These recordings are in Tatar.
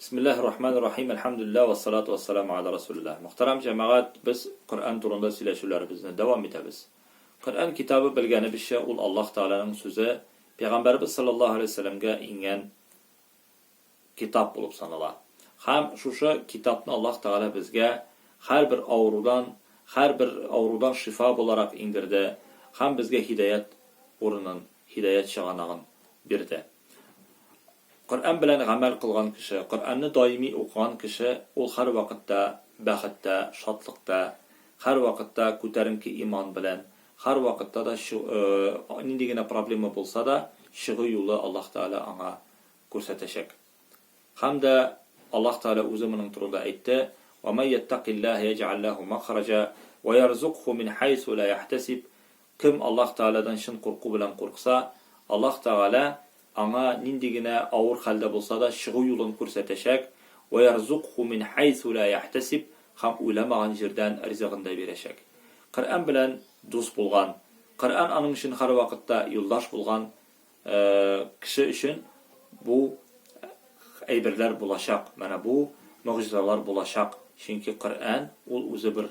Бисмиллаһи рахмани рахим, әлхәмдүлиллаһ, вәссалату вәссәламү ала рәсүлиллаһ. Мөхтәрәм җәмәгать, без Коръән турында сөйләшүләребезне дәвам итәбез. Коръән китабы, белгәнебезчә, ул Аллаһ Тәгаләнең сүзе, Пәйгамбәребез салләллаһу аләйһи вә сәлләмгә иңгән китап булып санала. Һәм шушы китапны Аллаһ Тәгалә безгә һәрбер авырудан, һәрбер авырудан шифа буларак иңдерде һәм безгә һидаять урынын, һидаять чыганагын бирде. Коръән белән гамәл кылган кеше, Коръәнне даими укыган кеше ул һәрвакытта бәхеттә, шатлыкта, һәрвакытта күтәренке иман белән, һәрвакытта да нинди генә проблема булса да, чыгу юлы Аллаһ Тәгалә аңа күрсәтәчәк. Һәм дә Аллаһ Тәгалә Үзе моның турында әйтте, Ва ман яттакиллаһа яҗәаль ләһу мәхраҗа, ва ярзукһу мин һәйсу лә яһтәсиб, Кем Аллаһ Тәгаләдән чын курку белән курыкса, Аллаһ Тәгалә аңа нинди генә авыр хәлдә булса да чыгу юлын күрсәтәчәк, Вәярзукху мин хәйсу лә яхтәсиб һәм уйламаган җирдән ризыгын да бирәчәк. Коръән белән дус булган, Коръән аның өчен һәрвакытта юлдаш булган кеше өчен бу әйберләр булачак, менә бу могҗизалар булачак, чөнки Коръән ул үзе бер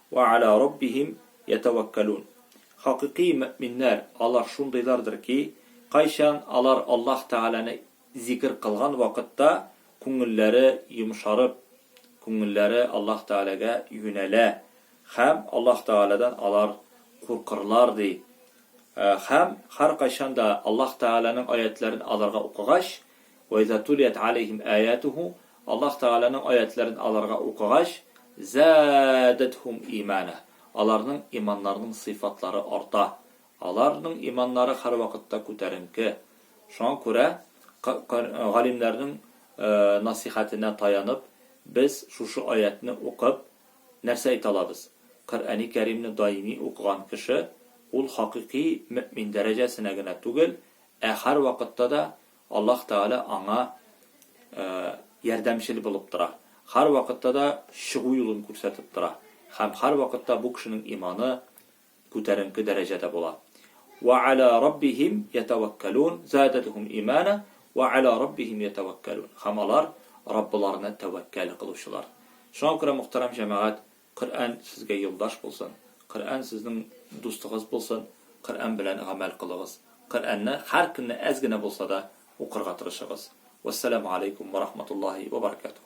Вә ала раббихим ятәвәккәлүн. Хакыйкый мөэминнәр алар шундыйлардыр ки, кайчан алар Аллаһ Тәгаләне зикер кылган вакытта күңелләре йомшарып, күңелләре Аллаһ Тәгаләгә юнәлә һәм Аллаһ Тәгаләдән алар куркырлар, ди. Һәм һәркайчан да Аллаһ Тәгаләнең аятьләрен аларга укыгач, Вә иза тулият галәйһим аятуху, Аллаһ Тәгаләнең аятьләрен аларга укыгач, заадәтһум имана, аларның иманнарының сыйфатлары арта. Аларның иманнары һәрвакытта күтәренке. Шуңа күрә, галимнәрнең насыйхәтенә таянып, без шушы аятьне укып, нәрсә әйтә алабыз? Коръәни Кәримне даими укыган кеше, ул хакыйкый мөэмин дәрәҗәсенә генә түгел, ә һәрвакытта да Аллаһ Тәгалә аңа ярдәмчел булып тора, һәрвакытта да чыгу юлын күрсәтеп тора һәм һәрвакытта бу кешенең иманы күтәренке дәрәҗәдә була. Вә ала раббихим ятәвәккәлүн задәтһум имана вә ала раббихим ятәвәккәлүн һәм алар Раббыларына тәвәккәл кылучылар. Шуңа күрә, мөхтәрәм җәмәгать, Коръән сезгә юлдаш булсын, Коръән сезнең дустыгыз булсын, Коръән белән гамәл кылыгыз. Коръәнне һәр көнне әз генә булса да укырга тырышыгыз. Вәссәламу алейкум вә рахматуллаһи вә баракатуһ.